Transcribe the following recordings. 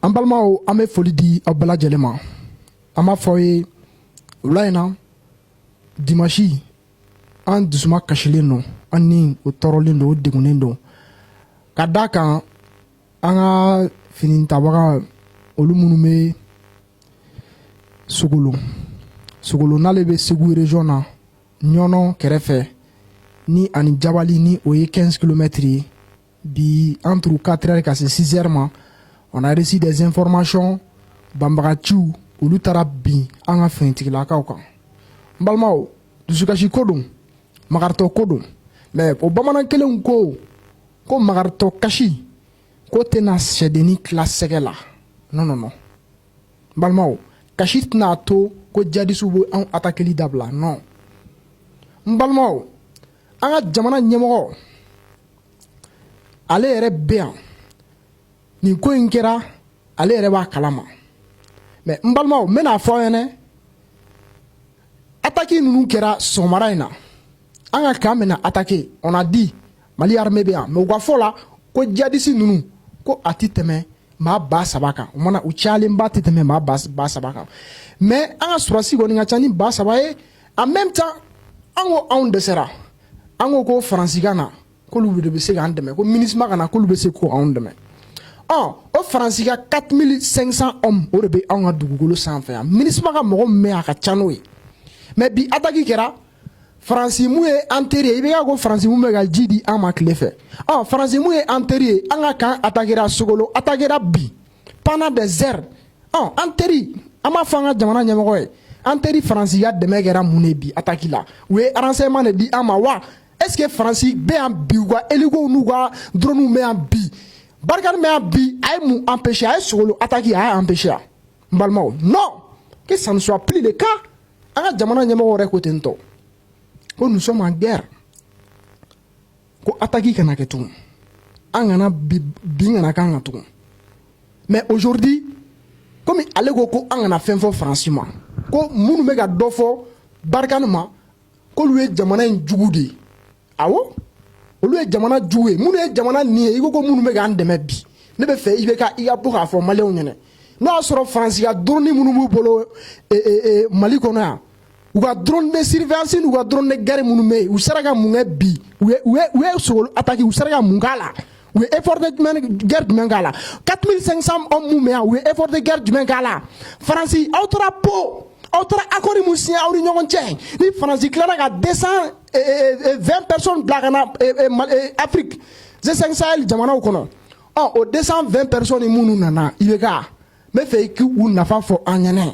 an balimaw an bɛ foli di aw bɛɛ lajɛlen ma an b'a fɔ aw ye wula in na dimansi an dusuma kasilen don an ni o tɔɔrɔlen don o degunnen don ka d'a kan an ka finitabaga olu minnu bɛ sogolo sogolo n'ale bɛ segu region na ɲɔnɔ kɛrɛfɛ ni ani jabali ni o ye 15 kilomɛtiri ye bi entre quatre heures ka se six heures ma on a reçu des informations banbagaciw olu taara bin an ka finitigilakaw kan n balimaw dusukasi ko don magaritɔ ko don mɛ o bamanan kelenw ko ko magaritɔ kasi ko tɛna sɛdenni tila sɛgɛ la non non non n balimaw kasi tɛna to ko jadisiw bɛ anw atakeli dabila non n balimaw an ka jamana ɲɛmɔgɔ ale yɛrɛ bɛ yan nin ko in kɛra ale yɛrɛ b'a kalama mɛ n balimaw n bɛn'a fɔ aw ɲɛna ataki ninnu kɛra sɔgɔmada in na an ka kan bɛna atake on a dit mali armée bɛ yan mɛ u ka fɔ la ko jadisi ninnu ko a tɛ tɛmɛ maa ba saba kan o mana u cayalenba tɛ tɛmɛ maa ba saba kan mɛ an ka sɔrɔdasi kɔni ka ca ni ba saba ye en même temps an ko anw dɛsɛra an ko ko faransi ka na k'olu de bɛ se k'an dɛmɛ ko minusma ka na k'olu bɛ se k'anw dɛmɛ ɔ o faransi ka 4500 hommes o de bɛ anw ka dugukolo sanfɛ yan minusma ka mɔgɔ min bɛ yan a ka ca n'o ye mɛ bi ataki kɛra faransi min ye an teri i bɛ ka ko faransi min bɛ ka ji di an ma tile fɛ ɔ faransi min ye an teri ye an ka kan atakera sogolo atakera bi pendant des heures an teri an b'a fɔ an ka jamana ɲɛmɔgɔ ye an teri faransi ka dɛmɛ kɛra mun ye bi ataki la u ye renseignement de di an ma wa est ce que faransi bɛ yan bi u ka elikow n'u ka drɔnw bɛ yan bi barkhane bɛ yan bi a ye mun anpese a ye sogolo ataki a y'a anpese a n balimaw non que ça ne soit plus le cas an ka jamana ɲɛmɔgɔ yɛrɛ ko tantôt ko nous sommes en guerre ko ataki kana kɛ tugun an kana bin kana k'an kan tugun mɛ aujourd'hui comme ale ko ko an kana fɛn fɔ faransi ma ko minnu bɛ ka dɔ fɔ barkhane ma k'olu ye jamana in jugu de ye awo olu ye jamana jugu ye minnu ye jamana nin ye i ko ko minnu bɛ k'an dɛmɛ bi ne b'a fɛ i bɛ ka i ka bɔ k'a fɔ maliyɛnw ɲɛna n'o y'a sɔrɔ faransi ka dɔrɔni minnu b'u bolo mali kɔnɔ yan u ka drone de surveillance n'u ka drone de guerre minnu bɛ yen u sera ka mun kɛ bi u ye u ye u ye sogolo attaque u sera ka mun k'a la u ye effort de jumɛn guerre jumɛn k'a la 4500 hommes mun bɛ yan u ye effort de guerre jumɛn k'a la faransi aw taara Pau aw taara accord mun signé aw ni ɲɔgɔn cɛ ni faransi tilara ka 220 personnes bila ka na Afrique G5 Sahel jamanaw kɔnɔ ɔ o 220 personnes minnu nana IBK n bɛ fɛ i k'u nafa fɔ an ɲɛna.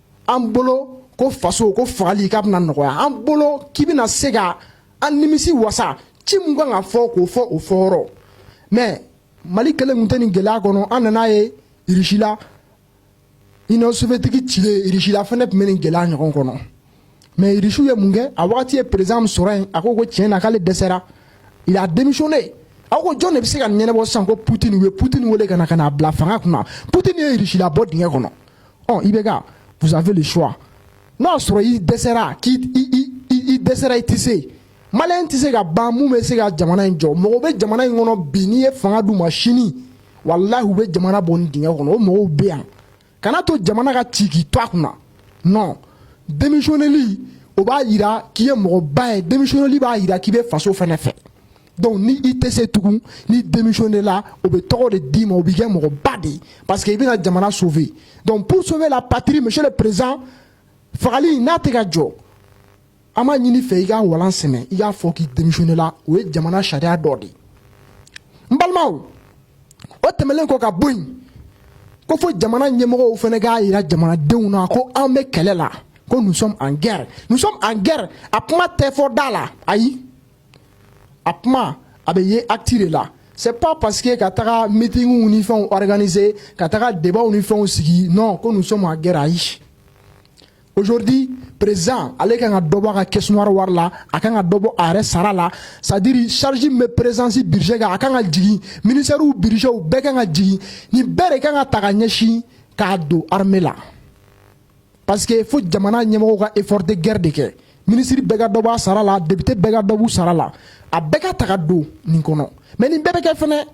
an bolo ko faso ko fagali k'a bɛna nɔgɔya an bolo k'i bɛna se ka an nimisi wasa ci min kan ka fɔ k'o fɔ o fɔyɔrɔ mais mali kelen tun tɛ nin gɛlɛya kɔnɔ an nan'a ye irisi la union soviétique cilen irisi la fɛnɛ tun bɛ nin gɛlɛya ɲɔgɔn kɔnɔ mais irisiw ye mun kɛ a wagati ye président min sɔrɔ yen a ko ko tiɲɛ na k'ale dɛsɛra il a démissionné aw ko jɔn de bɛ se ka ɲɛnabɔ sisan ko putin u ye putin wele ka na ka n'a bila fanga kunna putin ye irisi labɔ dingɛ kɔnɔ ɔ IBK vous avez le choix n'o y'a sɔrɔ i dɛsɛra k'i i dɛsɛra i tɛ se maliyɛn tɛ se ka ban mun bɛ se ka jamana in jɔ mɔgɔw bɛ jamana in kɔnɔ bi n'i ye fanga d'u ma sini walahi u bɛ jamana bɔ nin dingɛ kɔnɔ o mɔgɔw bɛ yan kana to jamana ka ci k'i to a kunna non démissionnéli o b'a yira k'i ye mɔgɔba ye démissionnéli b'a yira k'i bɛ faso fɛnɛ fɛ donc ni i tɛ se tugun n'i démissionnéla o bɛ tɔgɔ de d'i ma o b'i kɛ mɔgɔba de ye parce que i bɛna jamana sauver donc pour sauver la patrie monsieur le président fagali n'a tɛ ka jɔ an b'a ɲini i fɛ i ka walan sɛmɛ i k'a fɔ k'i démissionnéla o ye jamana sariya dɔ de ye n balimaw o tɛmɛnen kɔ ka bɔ yen ko fo jamana ɲɛmɔgɔw fɛnɛ k'a yira jamanadenw na ko an bɛ kɛlɛ la ko nous sommes en guerre nous sommes en guerre a kuma tɛ fɔ da la ayi a kuma a bɛ ye ati de la se pa parce que ka taga mitigiw ni fɛnw gananie ka taga deba ni fɛnw sigi nɔn ko musomanma gɛrɛ ayi ozodi prez ale ka kan ka dɔbɔ ka kɛs wari la a kan ka dɔbɔ a yɛrɛ sara la sadiri sarisi bɛ perezsi bise kan a kan ka jigin miniriw biw bɛɛ kan ka jigin ni bɛɛ de kan ka taga ɲɛsin k'a don hame la parce que fo jamana ɲɛmɔgɔw ka effort de guerre de kɛ minisiri bɛɛ ka dɔ b'a sara la député bɛɛ ka dɔ b'u sara la a bɛɛ ka ta ka don nin kɔnɔ mais nin bɛɛ bɛ kɛ fɛnɛ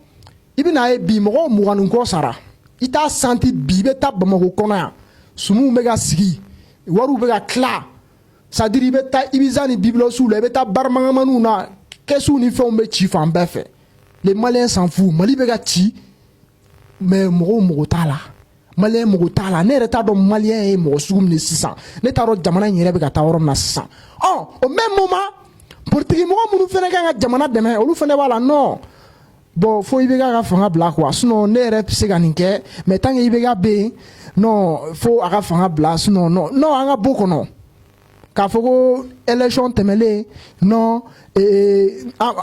i bɛna ye bi mɔgɔw mugan ni kɔ sara i t'a santi bi i bɛ taa bamakɔ kɔnɔ yan sumuw bɛ ka sigi wariw bɛ ka tila c'est-à-dire i bɛ taa ibiza ni byblos la i bɛ taa barimagamaniw na kɛsiw ni fɛnw bɛ ci fan bɛɛ fɛ les maliens s'en foutent mali bɛ ka ci mais mɔgɔw mago t'a la maliyɛn mago t'a la ne yɛrɛ t'a dɔn maliyɛn ye mɔgɔ sugu min ye sisan ne t'a dɔn jamana in yɛrɛ bɛ ka taa yɔrɔ min na sisan au même moment politikimɔgɔ minnu fɛnɛ kan ka jamana dɛmɛ olu fɛnɛ b'a la non bon fo IBK ka fanga bila quoi sinon ne yɛrɛ bɛ se ka nin kɛ mais tant que IBK bɛ yen fo a ka fanga bila sinon an k'a bɔ kɔnɔ K'a fɔ ko élection tɛmɛnen non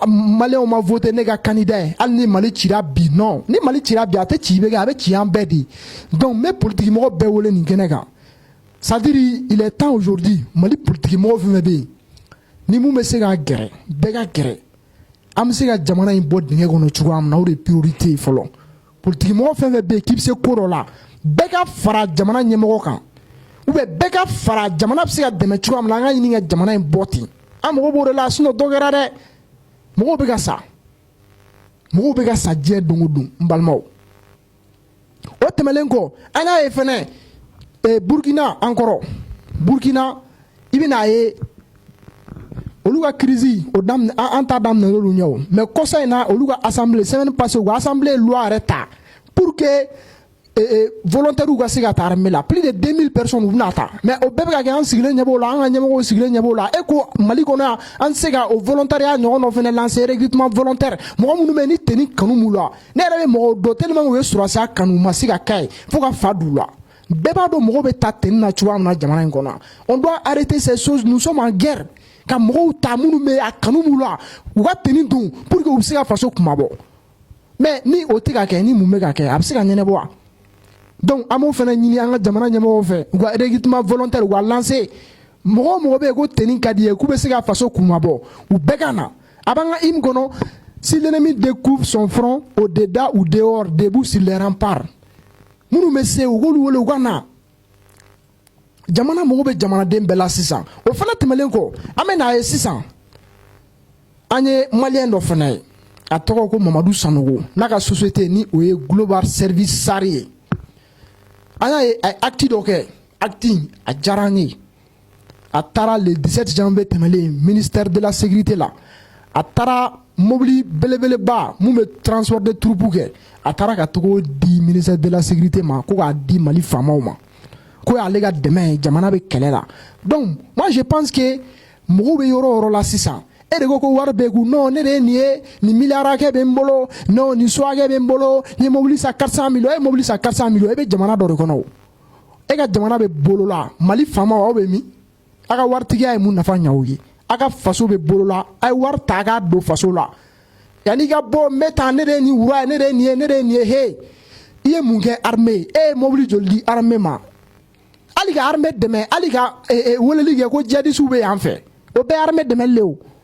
maliyɛnw ma voter ne ka candidat ye hali ni mali cira bi non ni mali cira bi a tɛ ci IBK a bɛ ci an bɛɛ de donc n bɛ politikimɔgɔ bɛɛ wele nin kɛnɛ kan c'est-à-dire il est temps aujourd'hui mali politikimɔgɔ fɛn fɛn bɛ yen ni minnu bɛ se ka gɛrɛ bɛɛ ka gɛrɛ an bɛ se ka jamana in bɔ dingɛ kɔnɔ cogoya min na o de ye priorité ye fɔlɔ politikimɔgɔ fɛn fɛn bɛ yen k'i bɛ se ko dɔ la bɛɛ ka fara jamana ɲɛmɔgɔ kan ou bien bɛɛ ka fara jamana bɛ se ka dɛmɛ cogoya min na an ka ɲini ka jamana in bɔ ten an mago b'o de la sinon dɔ kɛra dɛ mɔgɔw bɛ ka sa mɔgɔw bɛ ka sa diɲɛ don o don n balimaw o tɛmɛnen kɔ an y'a ye fɛnɛ eh, burukina an kɔrɔ burukina i bɛna a ye olu ka crise o daminɛ an ta daminɛna olu ɲɛ o mais kɔsa in na olu ka assemblée semaine passée u ka assemblée ye loi yɛrɛ ta pour que eh, eh, volontaires ka se ka taa armée la plus de 2000 personnes u bɛna ta mais o bɛɛ bɛ ka kɛ an sigilen ɲɛ b'o la an ka ɲɛmɔgɔw sigilen ɲɛ b'o la e ko mali kɔnɔ yan an tɛ se ka o volontariat ɲɔgɔn dɔ fana lancer recrutement volontaire mɔgɔ minnu bɛ yen ni tenue kanu b'u la ne yɛrɛ bɛ mɔgɔw dɔn tellement u ye sɔrɔsiya kanu u ma se ka k'a ye fo ka fa d'u la bɛɛ b'a dɔn mɔgɔw bɛ ta tenue na cogoya min na jamana in kɔnɔ on doit arrêter ces choses nous sommes en guerre ka mɔgɔw ta minnu bɛ a kanu b'u la u ka tenue don pour que u bɛ se ka faso kunmabɔ mais ni o tɛ ka kɛ nin min bɛ ka kɛ a bɛ se ka ɲɛnabɔ wa donc an b'o fana ɲini an ka jamana ɲɛmɔgɔw fɛ u ka recrutement volontaire u ka lancer mɔgɔ o mɔgɔ bɛ yen ko tenue ka di ye k'u bɛ se ka faso kunmabɔ u bɛɛ ka na a b'an ka hymne kɔnɔ si l'ennemi découvre son front au dedans ou dehors debout sur les remparts minnu bɛ se u k'olu wele u ka na jamana mago bɛ jamanaden bɛɛ la sisan o fana tɛmɛnen kɔ an bɛ n'a ye sisan an ye maliyɛn dɔ fana ye a tɔgɔ ko mamadu sanogo n'a ka société ni o ye global service sari ye an y'a ye a ye acte dɔ kɛ acte a diyara an ye a taara le 17 janvier tɛmɛlen ministère de la sécurité la a taara mobili belebeleba mun bɛ transport de troupe kɛ a taara ka tag'o di ministère de la sécurité ma ko k'a di mali faamaw ma k'o y'ale ka dɛmɛ ye jamana bɛ kɛlɛ la donc moi je pense que mɔgɔw bɛ yɔrɔ o yɔrɔ la sisan e de ko ko wari bɛ n kun non ne de ye nin ye nin miliyari hakɛ bɛ n bolo non nin so hakɛ bɛ n bolo n ye mobili san 400 millions e ye mobili san 400 millions e bɛ jamana dɔ de kɔnɔ o e ka jamana bɛ bɔlɔ la mali faamaw aw bɛ min aw ka waritigiya ye mun nafa ɲ'aw ye aw ka faso bɛ bɔlɔ la a ye wari ta k'a don faso la yanni i ka bɔ n bɛ taa ne de ye nin wura ye ne de ye nin ye ne de ye nin ye he i ye mun kɛ armée ye e ye mobili joli di armée ma hali ka armée dɛmɛ hali ka weleli kɛ ko jihadisiw bɛ yan fɛ o bɛɛ ye armée dɛmɛli le o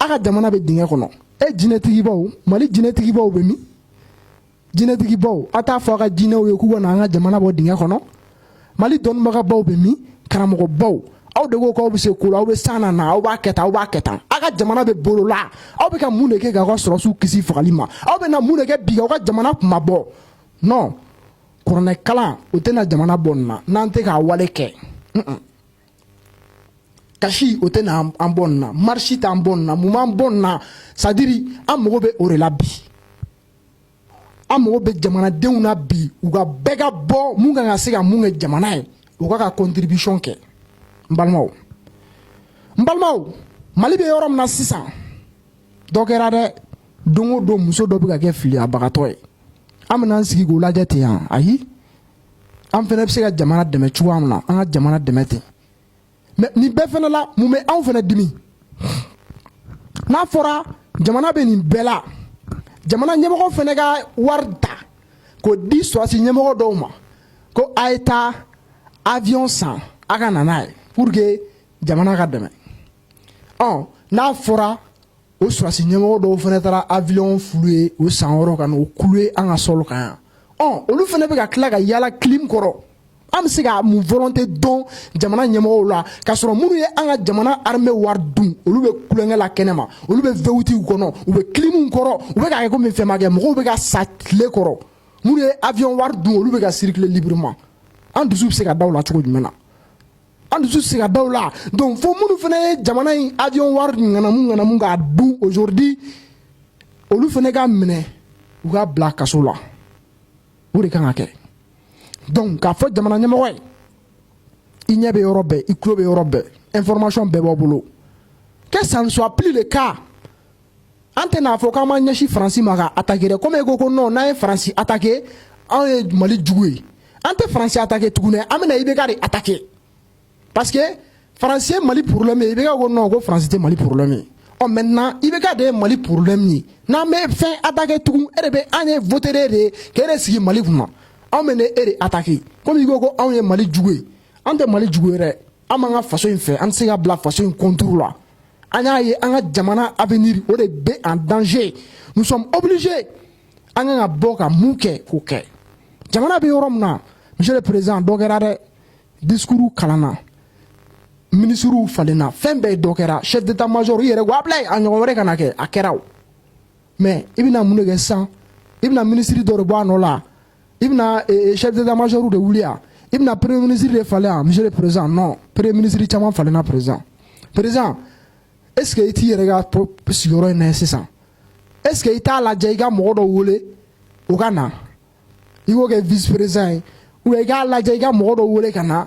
a ka jamana bɛ dingɛ kɔnɔ e jinɛtigibaw mali jinɛtigibaw bɛ min jinɛtigibaw a t'a fɔ a ka jinɛw ye k'u ka na an ka jamana bɔ dingɛ kɔnɔ mali dɔnnibagabaw bɛ min karamɔgɔbaw aw de ko k'aw bɛ se ko la aw bɛ san na na aw b'a kɛ tan aw b'a kɛ tan aw ka jamana bɛ bɔlɔ la aw bɛ ka mun de kɛ k'aw ka sɔrɔsiw kisi fagali ma aw bɛ na mun de kɛ bi k'aw ka jamana kunmabɔ non kuranɛkalan o tɛna jamana bɔ nin na n'an tɛ ka wale kɛ kasi o tɛ na an bɔ nin na marche t'an bɔ nin na mun b'an bɔ nin na c'est-à-dire an mago bɛ o de la bi an mago bɛ jamanadenw na bi u ka bɛɛ ka bɔ mun kan ka se ka mun kɛ jamana ye o k'a ka contribution kɛ n balimaw n balimaw mali bɛ yɔrɔ min na sisan dɔ kɛra dɛ don o don muso dɔ bɛ ka kɛ filiyabagatɔ ye an bɛna an sigi k'o lajɛ ten yan ayi an fɛnɛ bɛ se ka jamana dɛmɛ cogoya min na an ka jamana dɛmɛ ten mais nin bɛɛ fɛnɛ la mun bɛ anw fɛnɛ dimi n'a fɔra jamana bɛ nin bɛɛ la jamana ɲɛmɔgɔ fɛnɛ ka wari ta k'o di sɔrɔsi ɲɛmɔgɔ dɔw ma ko a ye taa avion san a ka na n'a ye pour que jamana ka dɛmɛ ɔ n'a fɔra o sɔrɔsi ɲɛmɔgɔ dɔw fɛnɛ taara avion fulu ye o san wɔɔrɔ ka n'o clouer an ka sol kan yan ɔ olu fɛnɛ bɛ ka tila ka yaala clim kɔrɔ an bɛ se ka mun volonté dɔn jamana ɲɛmɔgɔw la k'a sɔrɔ minnu ye an ka jamana armée wari dun olu bɛ tulonkɛ la kɛnɛma olu bɛ V8w kɔnɔ u bɛ climw kɔrɔ u bɛ k'a kɛ komi fɛn ma kɛ mɔgɔw bɛ ka sa tile kɔrɔ minnu ye avion wari dun olu bɛ ka circuler librement an dusu bɛ se ka da u la cogo jumɛn na an dusu se ka da u la donc fo minnu fɛnɛ ye jamana in avion wari ŋanamu ŋanamu k'a dun aujourd'hui olu fɛnɛ ka minɛ u ka bila kaso la o de kan ka kɛ donc k'a fɔ jamana ɲɛmɔgɔ ye i ɲɛ bɛ yɔrɔ bɛɛ i tulo bɛ yɔrɔ bɛɛ information bɛɛ b'a bolo que ça ne soit plus le cas an tɛ n'a fɔ k'an ma ɲɛsin faransi ma ka attaquer comme i ko ko n'an ye faransi attaquer anw ye mali jugu ye an tɛ faransi attaquer tugun an bɛna ibk de attaquer parce que faransi ye mali problème ye ibk ko non ko faransi tɛ mali problème ye maintenant ibk de ye mali problème ye n'an bɛ fɛn attaquer tugun e de bɛ an ye voter e de ye k'e de sigi mali kun na anw bɛna e de attaquer comme i ko ko anw ye mali jugu ye an tɛ mali jugu ye dɛ an b'an ka faso in fɛ an tɛ se ka bila faso in contre la an y'a ye an ka jamana avenir o de bɛ en danger nous sommes obligés an kan ka bɔ ka mun kɛ k'o kɛ jamana bɛ yɔrɔ min na monsieur le président dɔ kɛra dɛ discours kalanna minisiriw falenna fɛn bɛɛ dɔ kɛra chef d'état major i yɛrɛ y'a bila a ɲɔgɔn wɛrɛ kana kɛ a kɛra o mais i bɛna mun de kɛ sisan i bɛna minisiri dɔ de bɔ a nɔ la i bɛna sɛ damamajoro de wuli yan i bɛna perere minisiriri de falen yan misi perez nɔ perere minisiriri caman falenna perez perez eseke i t'i yɛrɛ ka sigiyɔrɔ in na sisan eseke i t'a lajɛ i ka mɔgɔ dɔ wele u ka na i kɛ vperez ye u i k'a lajɛ i ka mɔgɔ dɔ wele ka na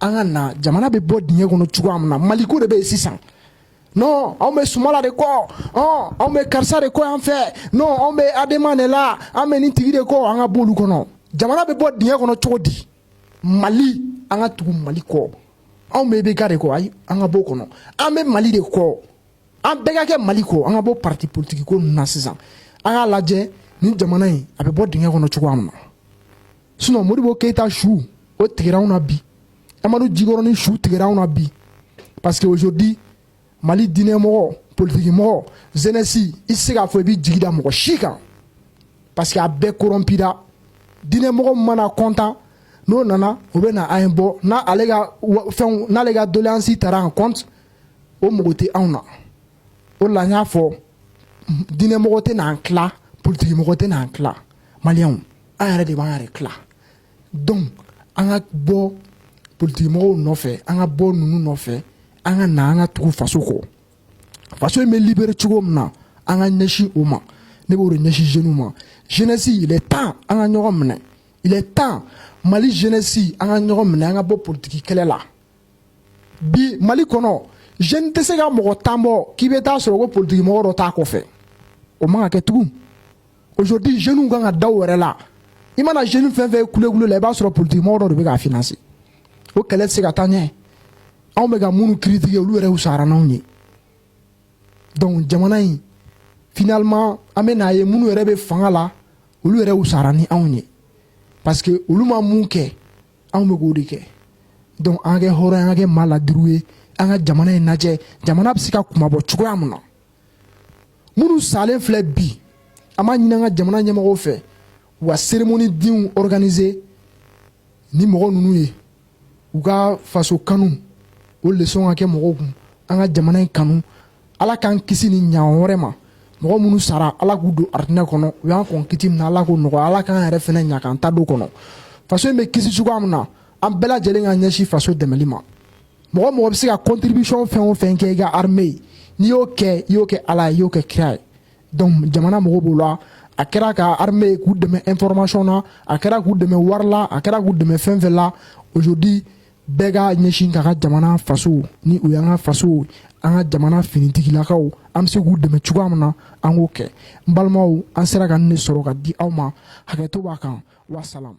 an ka na jamana bɛ bɔ dingɛ kɔnɔ cogoya min na maliko de bɛ yen sisan non anw bɛ sumala de kɔ ɔn anw bɛ karisa de kɔ yan fɛ non anw bɛ adema de la an bɛ nin tigi de kɔ an ka b'olu kɔnɔ jamana bɛ bɔ dingɛ kɔnɔ cogo di mali an ka tugu mali kɔ anw bɛ ibk de kɔ ayi an ka b'o kɔnɔ an bɛ mali de kɔ an bɛɛ ka kɛ mali kɔ an ka bɔ parti politiki ko ninnu na sisan an k'a lajɛ nin jamana in a bɛ bɔ dingɛ kɔnɔ cogoya min na sinon modibo keyita sugu tigɛra anw na bi amadu jikɔrɔni sugu tigɛra anw na bi parce que aujourd'hui mali diinɛ mɔgɔ politiki mɔgɔ jeunesse i tɛ se k'a fɔ i bɛ jigi da mɔgɔ si kan parce que a bɛɛ korɔnpira diinɛ mɔgɔ mana kɔntan n'o nana o bɛ na an ye bɔ n'ale ka fɛnw n'ale ka doleansi tara en compte o mago tɛ anw na o de la n y'a fɔ diinɛ mɔgɔ tɛ n'an tila politiki mɔgɔ tɛ n'an tila maliyɛnw an yɛrɛ de b'an yɛrɛ tila donc an ka bɔ politikimɔgɔw nɔfɛ an ka bɔ ninnu nɔfɛ an ka na an ka tugu faso kɔ faso in bɛ libere cogo min na an ka ɲɛsin o ma ne b'o de ɲɛsin jeunes ma jeunesse il est temps an ka ɲɔgɔn minɛ il est temps mali jeunesse an ka ɲɔgɔn minɛ an ka bɔ politiki kɛlɛ la bi mali kɔnɔ jeune tɛ se ka mɔgɔ tan bɔ k'i bɛ taa sɔrɔ ko politikimɔgɔ dɔ t'a kɔfɛ o man ka kɛ tugun aujourd'hui jeunes kan ka da u yɛrɛ la i mana jeune fɛn fɛn kule la i b'a sɔrɔ politikimɔgɔ dɔ de bɛ k'a financer o kɛlɛ tɛ se ka taa ɲɛ anw bɛ ka minnu critiquer olu yɛrɛ wusara n'anw ye donc jamana in finalement an bɛ n'a ye minnu yɛrɛ bɛ fanga la olu yɛrɛ wusara ni anw ye parce que olu ma mun kɛ anw bɛ k'o de kɛ donc an ka kɛ hɔrɔn ye an ka kɛ maa ladiriw ye an ka jamana in lajɛ jamana bɛ se ka kunmabɔ cogoya min na minnu salen filɛ bi an b'a ɲini an ka jamana ɲɛmɔgɔw fɛ u ka cérémonie de organiser ni mɔgɔ ninnu ye u ka faso kanu o leçon ka kɛ mɔgɔw kun an ka jamana in kanu ala k'an kisi nin ɲɔgɔn wɛrɛ ma mɔgɔ minnu sara ala k'u don arijinɛ kɔnɔ u y'an kɔn kiti min na ala k'o nɔgɔya ala k'an yɛrɛ fana ɲa k'an ta don kɔnɔ faso in bɛ kisi cogoya min na an bɛɛ lajɛlen ka ɲɛsin faso dɛmɛli ma mɔgɔ o mɔgɔ bɛ se ka contribution fɛn o fɛn kɛ i ka armée ye n'i y'o kɛ i y'o kɛ ala ye i y'o kɛ kira ye donc jamana mago b'o la a kɛra ka armée ye k'u dɛmɛ information na a kɛra k'u dɛmɛ wari la a kɛra k'u dɛmɛ fɛn o fɛn la aujourd'hui bɛɛ ka ɲɛsin ka ka jamana faso ni o y'an ka faso an ka jamana finitigilakaw an bɛ se k'u dɛmɛ cogoya min na an k'o kɛ n balimaw an sera ka nin de sɔrɔ ka di aw ma hakɛto b'a kan wasalamu